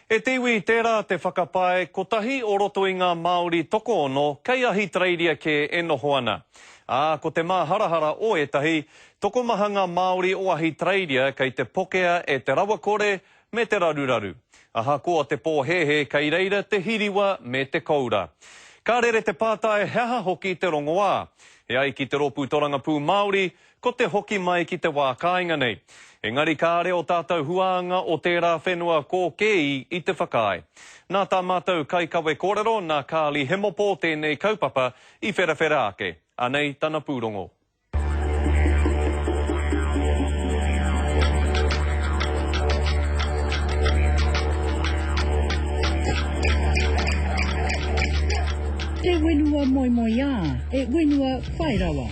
E te iwi, tērā te whakapae, kotahi o roto i ngā Māori tokoono kei Ahitereiria kē e noho ana. Ā, ko te māharahara o ētahi, tokomaha ngā Māori o Ahitereiria kei te pokea e te rawakore me te raruraru. Ahakoa te pōhēhē kei reira te hiriwa me te koura. Ka rere te pātai he aha hoki te rongoā. E ai ki te Rōpū Torangapū Māori, Ko te hoki mai ki te wā kāinga nei. Engari kāre o tātou huānga o tērā whenua kō Keeī i te whakaae. Nā tā mātou kaikawe kōrero nā Carly Hemopo tēnei kaupapa i wherawhera ake. Anei tana pūrongo. Te whenua moemoeā, e whenua whai rawa.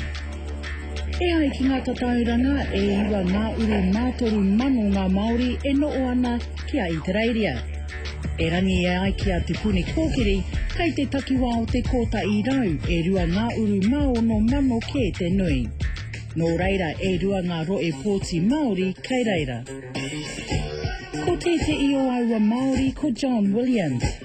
E ai ki ngā tatauranga, e iwa ngā uri mā toru mano ngā Māori e noho ana ki a Itereiria. Erangi e ai ki a Te Puni Kōkiri, kei te takiwā o te kōtaʻi rau e rua ngā uru mā ono mano kē te nui. Nō reira e rua ngā roe pōti Māori kei reira. Ko tēteʻi o aua Māori ko John Williams.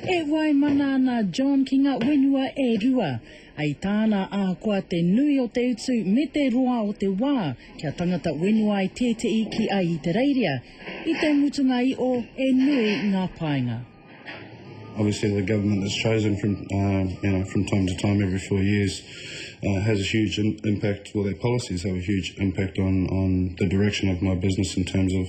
E waimana ana a John ki ngā whenua e rua. I tāna, ahakoa te nui o te utu me te roa o te wā kia tangata whenua ai tētehi ki Ahitereiria, i te mutunga i o e nui ngā painga. Obviously the government that's chosen from you know from time to time every four years has a huge impact, well their policies have a huge impact on on the direction of my business in terms of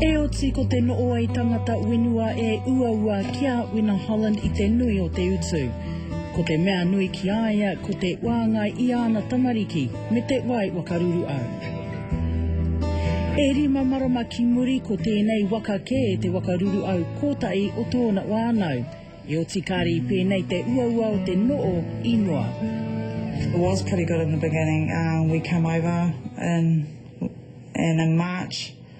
Heoti ko te nooi tangata wenua e uaua ki a Wina Holland i te nui o te utu. Ko te mea nui ki a ia ko te waangai i ana tamariki. Me te wai wakaruru au. E rima marama ki muri ko tēnei waka kē te wakaruru au kōtahi o tōna wānau, e oti kāri pēnei te uaua o te noo i noa. It was pretty good in the beginning, we came over in, in March.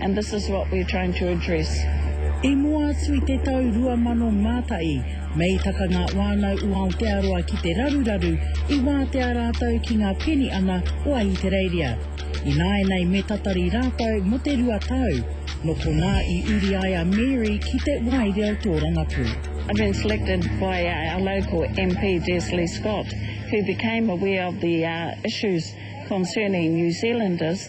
and this is what we're trying to address. I mua atu i te tau 2001, me i taka ngā whānau o Aotearoa ki te raruraru, i wātea rātou ki ngā peni ana o Ahitereiria. Ināianei me tatari rātou mō te rua tau, nō konā i uri ai a Mary ki te Wai Reo Tōrangapū. I've been selected by uh, our local MP, Des Lee Scott, who became aware of the uh, issues concerning New Zealanders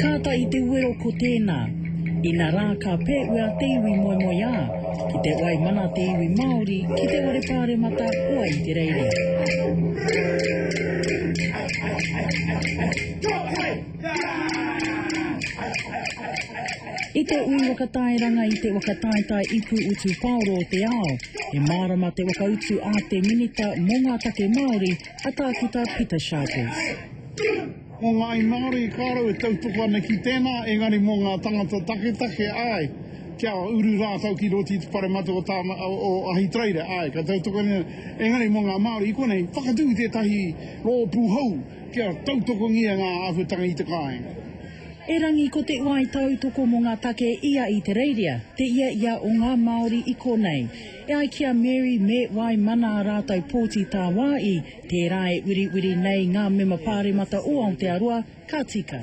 Kāta i te wero ko tēnā. Inarā ka pēwea te iwi moemoeā, ki te wai mana te iwi Māori ki te ware pāremata o Ahitereiria. Go away! I te ui wakatairanga i te wakataetae ipu utu paoro o te ao, he mārama te wakautu a te Minita mō ngā Take Māori, a Tākuta Pita Sharples. Mō ngāi Māori, kāore au e tautoko ana ki tēnā, engari mō ngā tangata taketake, āe, kia uru rātou ki roto i te whare matua o Tāma, o Ahitereiria, āe, ka tautoko nei, engari mō ngā Māori i konei, whakatū i tētahi rōpū hou, Kia tautokongia ngā āhuatanga i te kāinga. Erangi ko te wai tautoko mō ngā take i a Itereiria, te ia ia o ngā Māori i konei. E ai ki a Mary me wai mana a rātou pōti tāwāi, tērā e wiriwiri nei ngā mema pāremata o Aotearoa, ka tika.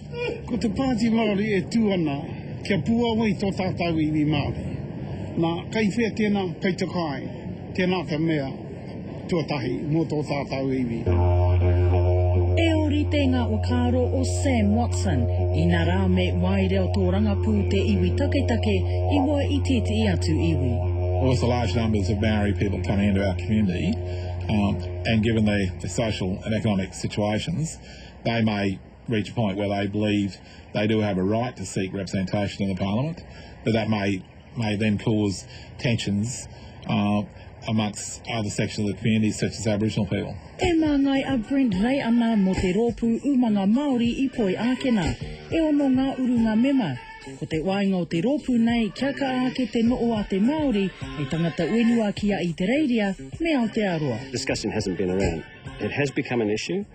Ko te Pāti Māori e tū ana kia puao ai tō tātau iwi Māori. Nā, kei whea tēnā, kei te kai, tēnā te mea tuatahi mō tō tātau iwi. He ōrite ngā whakaaro o Sam Watson, inarā me waireo tōrangapū te iwi taketake i mua i tētehi atu iwi. With the large numbers of Maori people coming into our community and given the social and economic situations, they may. reach a point where they believe they do have a right to seek representation in the parliament, but that may may then cause tensions uh, amongst other sections of the community, such as Aboriginal people. E māngai a Brent Ray ana mō te rōpū umanga Māori i Poi Ākena. E ono ngā urunga mema. Ko te wainga o te rōpū nei kia kaa ake te noo a te Māori e tangata uenua ki a Itereiria me Aotearoa. Discussion hasn't been around. It has become an issue.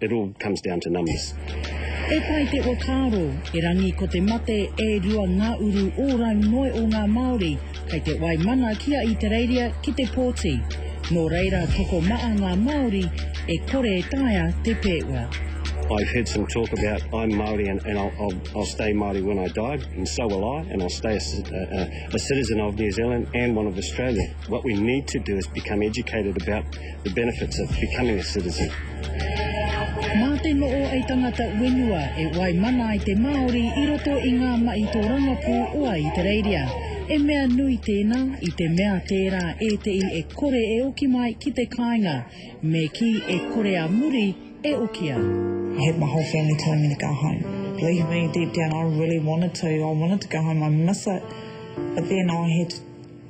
It all comes down to numbers. E pai te whakaaro, erangi ko te mate e rua ngā uru ōrau noe o ngā Māori kei te wai mana ki a Itereiria ki te pōti. Nō reira tokomaa ngā Māori e kore e taea te pēua. I've heard some talk about I'm Māori and, and I'll, I'll, I'll stay Māori when I die, and so will I, and I'll stay a, a, a citizen of New Zealand and one of Australia. What we need to do is become educated about The benefits of becoming a citizen. Mā te no'o ai tangata wenua e wai mana ai te Māori i roto i ngā mahi tōrangapū o Ahitereiria. He mea nui tēnā i te mea tērā ētehi e kore e oki mai ki te kāinga, me kī e kore a muri e okia. I had my whole family telling me to go home. Believe me, deep down I really wanted to, I wanted to go home, I miss it, but then I had to